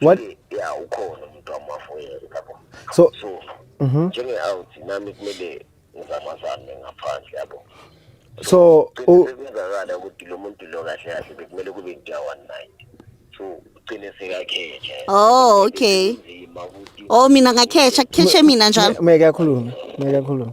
what ya ukhona umuntu wamafoyela lapho so mhm. njenge out nami kumele ngizamazame ngaphandle yabo so kungakala ukuthi lo muntu lo kahle kahle bekumele kube into ya 19 so ugcine sekakhetha oh okay oh mina ngakhetha khethe mina njalo meke akhulume meke akhulume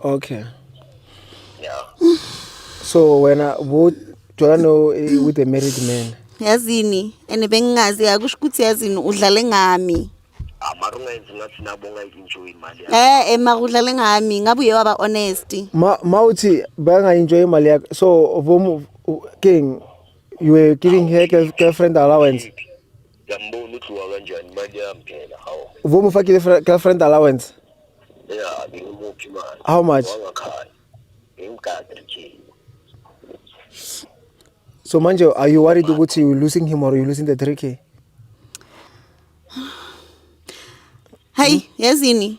okay yeah so wena bu jola no eh, with a married man yazini and bengingazi akusho ukuthi yazini udlale ngami amara ungayenzi ngathi nabo ungayi-enjoy imali yakho eh ema udlale ngami ngabe uye waba honest ma ma uthi bangayenjoy imali yakho so vomu king you were giving her girl- girlfriend allowance Ngiyambona udliwa kanjani imali yami phela hawu. Uvuma ufake ile girlfriend allowance? Yeah, ngimuphi imali. How much? Wangakhaya. Ngimgade nje. So manje are you worried ukuthi you losing him or you losing the 3k? Hey, yazini.